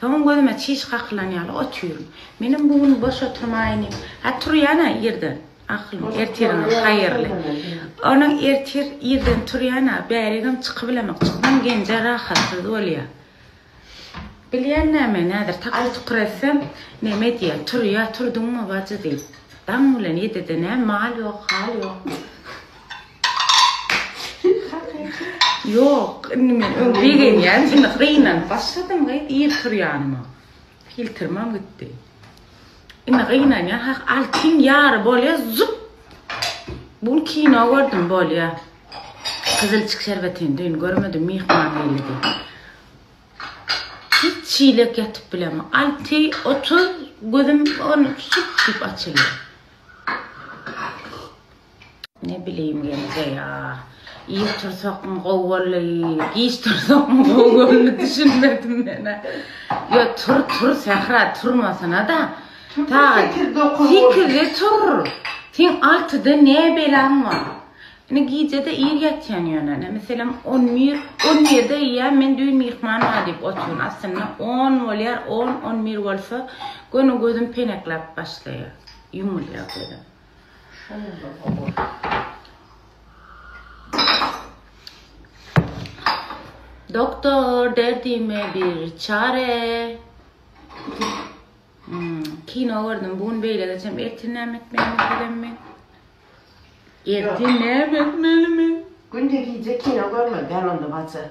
Soňam gözüme çiş kakylan ýaly otyrum. Menem bu gün boş oturmaýyny. Hä, turýan-a irden. Ahylym, ertiriňiz haýyrly. Onam ertir irden turýan-a, bäregem çykybilemok. Çyksam Genje rahatsyz bolýa. Bilýän näme, näzir takyr-tukyr etsem, neme diýýä, turýa, turduňmy bajy diýip. Daň bilen ýedide nä mal ýok, hal ýok. Ýok, indi men öň begenýän, indi gynanyp başladym gyz, ir tur ýanyma. Filtrimem gitdi. Indi gynanýan, ha altyn ýary bolýa, zup. Bu gün kino gördüm, bolýa. Gyzylçyk şerbetini düýn görmedim, myhman geldi. Hiç çilek ýatyp bilemok. Alty, otuz, gözüm on, sup diýip açylýar. Ne bileyim Gelje ya. Ir tursakmy gowy boldy, giç tursakmy gowy boldy düşünmedim menä. Yo tur tur Sähra turmasana-da. Sagat sekizde tur. Sen altyda ne belaň bar? Ine gijede ir ýatýan ýöne. Ine meselem 11, 11-de ýa men düýn myhman bar diýip oturyn. Aslynda 10 bolýar, 10, 11 bolsa göni gözüm penekläp başlaýar. Ýumulýar gözüm. Doktor derdime bir çare. Hmm, kino gördüm. Bugün beyle geçem. Ertin näme etmeli mi? Ertin näme etmeli mi? Günde giyce kino görme. Ben onda batı.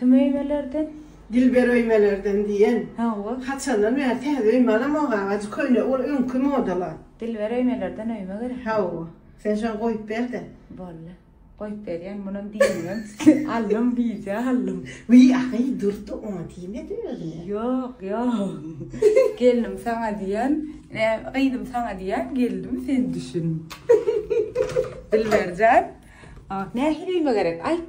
Kim öýmelerden? Dilber öýmelerden diýen. Hawa. Haçandan bäri täze öýme alamok agaji köne ol öňki modala. Dilber öýmelerden öýme gerek. Hawa. Sen şony goýup berde. Boldy. Goýup berýän munam diýmän. Aldym gije aldym. Wiý ahy durdy oňa diýmedi özüne. Ýok ýok. Gelnim saňa diýen. Ä gyzym saňa diýen geldim sen düşün. Dilberjan. Nähili öýme gerek aýt.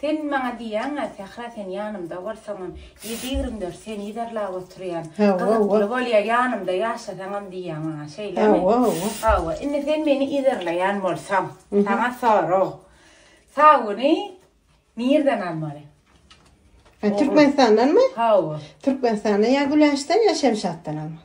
Sen maňa diýýäň-ä, Sähra sen ýanymda bolsaňam, ýedi-ýigrimi dört seni yzarlap oturýan. Gyzykly bolýar, ýanymda ýaşasaňam diýýäň maňa, şeýlemi? Hawa, hawa. Hawa, indi sen meni yzarlaýan bolsaň, saňa sorag. Sabuny nirden almaly? Türkmenistandanmy? Hawa. Türkmenistanda ýa Güläçden, ýa Şemşatdan almaly.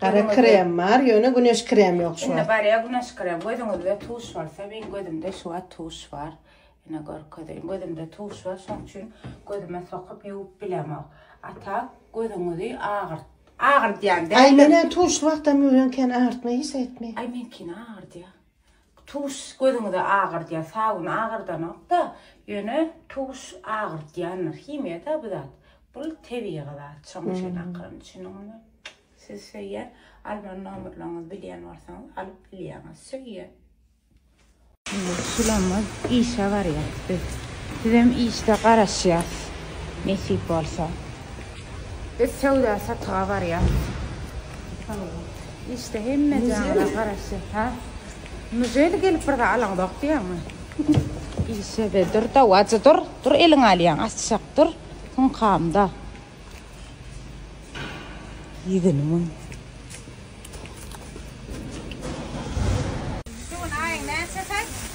Gara krem bar, ýöne güneş kremi ýok şu Indi wagt. garýa güneş krem. Gözüňizde tuş bolsa, meň gözümde şu wagt tuş bar. Ine görkezeýin. Gözümde tuş bar, şonuň üçin gözüme sokup ýuwup bilemok. A tak gözüňizi agyrt, agyrdýan Aý, däldir. menä tuşly wagtam ýuwýan kän agyrtma hiç aýtmaý. Aý, meňkini agyrdýa. Tuş gözüňizi agyrdyar sabun agyrdanokda ýöne tuş agyrtýandyr himiýa da bu zat bul tebigy zat şoň üçin akyryn düşüniňizmi siz söýýän alman nomerleriňizi bilýän bolsaňyz alyp bilýäňiz söýýän. Indi Sulamaz işe barýas biz sizem işde garaşýas nesip bolsa biz söwda satyga barýas. Işde hemme jana garaşýar. Ha? Nujeli gelip bir zat alaňzok diýýäňmi? Işe be dur da, wajy dur. Dur eliň alýaň, açjak dur. Hüňkamda. Ýigini muň. Şu gün aýyň näçesi?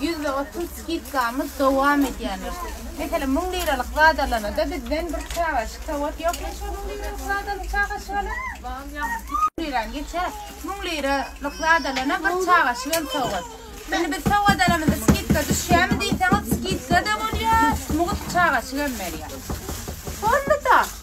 Ýüzde otuz skidkamyz dowam edýändir. Meselem, müň liralyk zat alanyda bizden bir çagaşyk sowat ýokmy şol müň liralyk zat alyp çagaşyk alan? Lirany geçer. Müň liralyk zat alana bir çagaşyk hem sowat. Indi biz sowat alamyzda skidka düşýärmi diýseňiz, skidka-da bolýar, mugt çagaşyk hem berýär. Boldy-da.